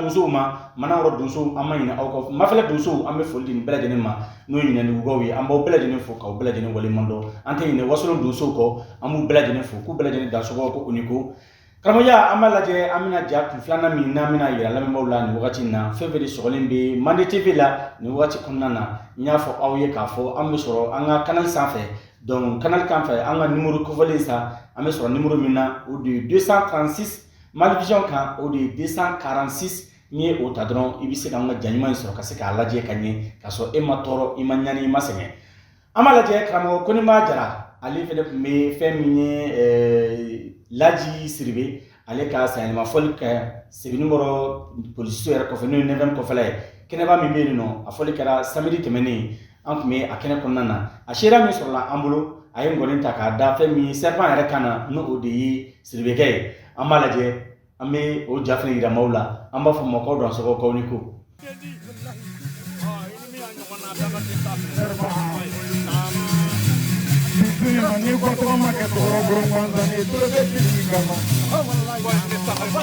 donsow ma Manankɔrɔ donsow an ma ɲinɛ aw kɔ mafɛlɛ donsow an bɛ foli di nin bɛɛ lajɛlen ma n'o ye Yinindugukaw ye an b'aw bɛɛ lajɛlen fo k'aw bɛɛ lajɛlen waleɲuman dɔn an tɛ ɲinɛ wasolon donsow kɔ an b'u bɛɛ lajɛlen fo k'u bɛɛ lajɛlen dansɔgɔ ko u ni ko karamɔgɔya an b'a lajɛ an bɛna ja kun filanan min n'an bɛna yira lamɛnbaaw la nin wagati in na fɛn fɛn de sɔgɔlen bɛ mande tv la nin wagati kɔnɔna na n y'a fɔ aw ye k'a fɔ an bɛ sɔrɔ an ka kanali sanfɛ donc kanali kan fɛ an ka nimoro kofɔlen sa an bɛ sɔrɔ nimoro min na o de ye 236 Malivision kan o de ye 246 nin ye o ta dɔrɔn i bɛ se ka an ka ja ɲuman in sɔrɔ ka se k'a lajɛ ka ɲɛ ka sɔrɔ e ma tɔɔrɔ i ma ɲani i ma sɛgɛn an b'a lajɛ karamɔgɔ Kɔniba Jara ale fana tun bɛ fɛn min ye laji Siribe ale ka sanyɛlɛma fɔli kɛ Sebeninkɔrɔ polisiso yɛrɛ kɔfɛ n'o ye neuvième kɔfɛla ye kɛnɛba min bɛ yen nɔ a fɔli kɛra samedi tɛmɛnen an tun bɛ a kɛnɛ kɔnɔna na a seereya min sɔrɔla an bolo a ye ngɔni ta k'a da fɛn min serpent yɛrɛ kan na n'o de ye siribekɛ ye an b'a lajɛ an bɛ o ja fana jira maaw la an b'a fɔ aw ma ko dansɔgɔ k'aw ni ko ni ko tɔgɔ ma kɛ tɔgɔ bolo kɔntan ni tɔgɔ bɛ kama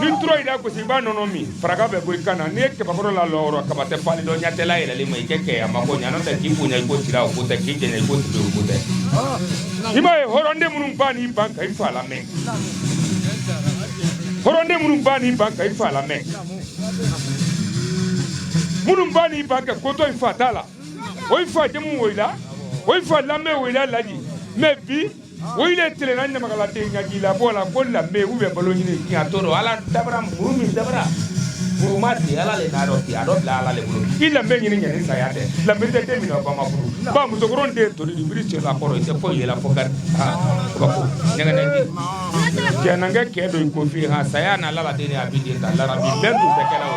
ni tura yɛrɛ gosi i b'a nɔnɔ min faraka bɛ bɔ i kan na n'i ye kabakɔrɔ la lɔrɔ kaba tɛ fali dɔn ɲatɛla yɛlɛlen ma i kɛ kɛya ma ko ɲanɔ tɛ k'i bonya i ko sira o ko tɛ k'i jɛnɛ i ko tibe o ko tɛ i b'a ye hɔrɔnden minnu ba n'i ban ka i fa lamɛn hɔrɔnden minnu ba n'i ban ka i fa lamɛn minnu ba n'i ban ka kotɔ i fa t'a la o i fa jamu woyila o i fa lanbe woyila laji mɛ bi O de tile na ɲamakaladen ka k'i la b'o la ko danbe u bɛ balo ɲini k'i a to dɔn ala dabara muru min dabara muru ma di ala le n'a dɔn k'i a dɔ bila ala le bolo i danbe ɲini ɲani saya tɛ danbe tɛ den min ba ma furu ba musokɔrɔn den toli di biri cɛ la kɔrɔ i tɛ fɔ yɛlɛ fɔ ka ka ko ɲɛgɛnɛ di jɛnankɛ kɛ don i ko fi ha saya n'a lala den a bi den ta larabi bɛn tun tɛ kɛlɛ o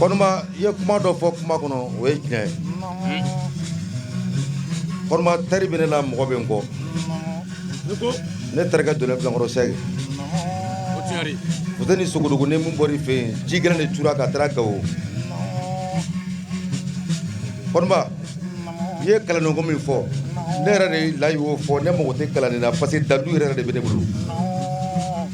i ye kuma dɔ fɔ kuma kɔnɔ o ye tiɲɛ ye Kɔniba teri bɛ ne la mɔgɔ bɛ n kɔ ne terikɛ don nekɔrɔsɛri u tɛ ni Sogodogo ni min bɔ fɛ yen ji gɛlɛn de tora ka taara Gawo Kɔniba i ye kalanko min fɔ ne yɛrɛ de layi o fɔ ne mako tɛ kalan nin na parce que dadu yɛrɛ de bɛ ne bolo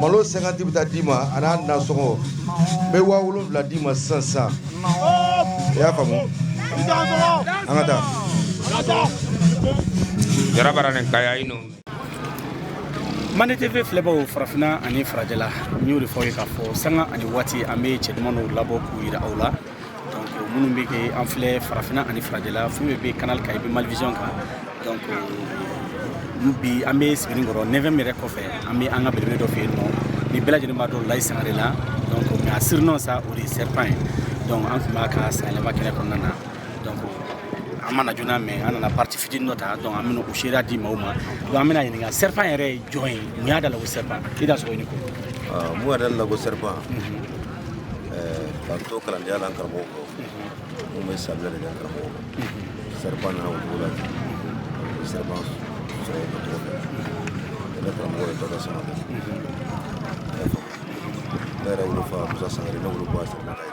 Malo 50 bɛ ta d'i ma a n'a nasɔngɔ n bɛ waa wolonfila d'i ma sisan sisan i y'a faamu an ka taa Jara baara nin kan yan ninnu Mande TV filɛbaaw farafinna ani farajɛla n y'o de fɔ aw ye k'a fɔ sanga ani waati an bɛ cɛ duman dɔw labɔ k'u jira aw la minnu bɛ kɛ an filɛ farafinna ani farajɛla fɛn bɛ bɛ canal kan i bɛ Malivision kan donc euh, bi an bɛ sebenikɔrɔ neuvième yɛrɛ kɔfɛ an bɛ an ka belebele dɔ fɛ yen nɔ ni bɛɛ lajɛlen b'a dɔn layi sangare la donc mais a surnom sa o de ye serpent ye donc an tun b'a ka sanyɛlɛma kɛnɛ kɔnɔna na donc an ma na joona mais an nana partie fitini dɔ ta donc an bɛna o seereya di maaw ma donc an bɛn'a ɲininka serpent yɛrɛ ye jɔn ye mun y'a da la ko serpent i dansogo i ni ko mun yɛrɛ da la ko serpent k'an to kalandenya la n karamɔgɔ kɔ n tun bɛ saminɛ de kɛ n karamɔgɔ kɔ serpent nana o cogo la ten serpent sɔrɔ o cogo fɛ ne karamɔgɔ ye dɔkɛ samakɛ ne yɛrɛ wolofa musa sangare ne woloba serpent ka ye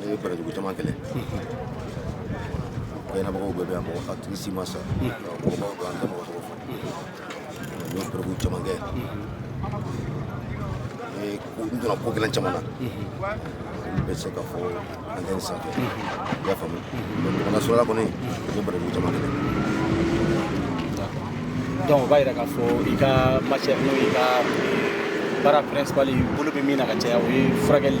ne ye barajugu caman kɛlɛ kɛnɛbagaw bɛɛ bɛ yan mɔgɔ a tigi si ma sa mɔgɔbaw don an tɛ mɔgɔ tɔgɔ fɔ n ye barajugu caman kɛ ne n donna ko gɛlɛn caman na n bɛ se ka fɔ antenne sanfɛ i y'a faamu mais ɲɔgɔnna sɔrɔla kɔni n ye barajugu caman kɛlɛ Donc o b'a yira k'a fɔ i ka matière n'o i ka baara principal bolo bɛ min na ka caya o ye furakɛli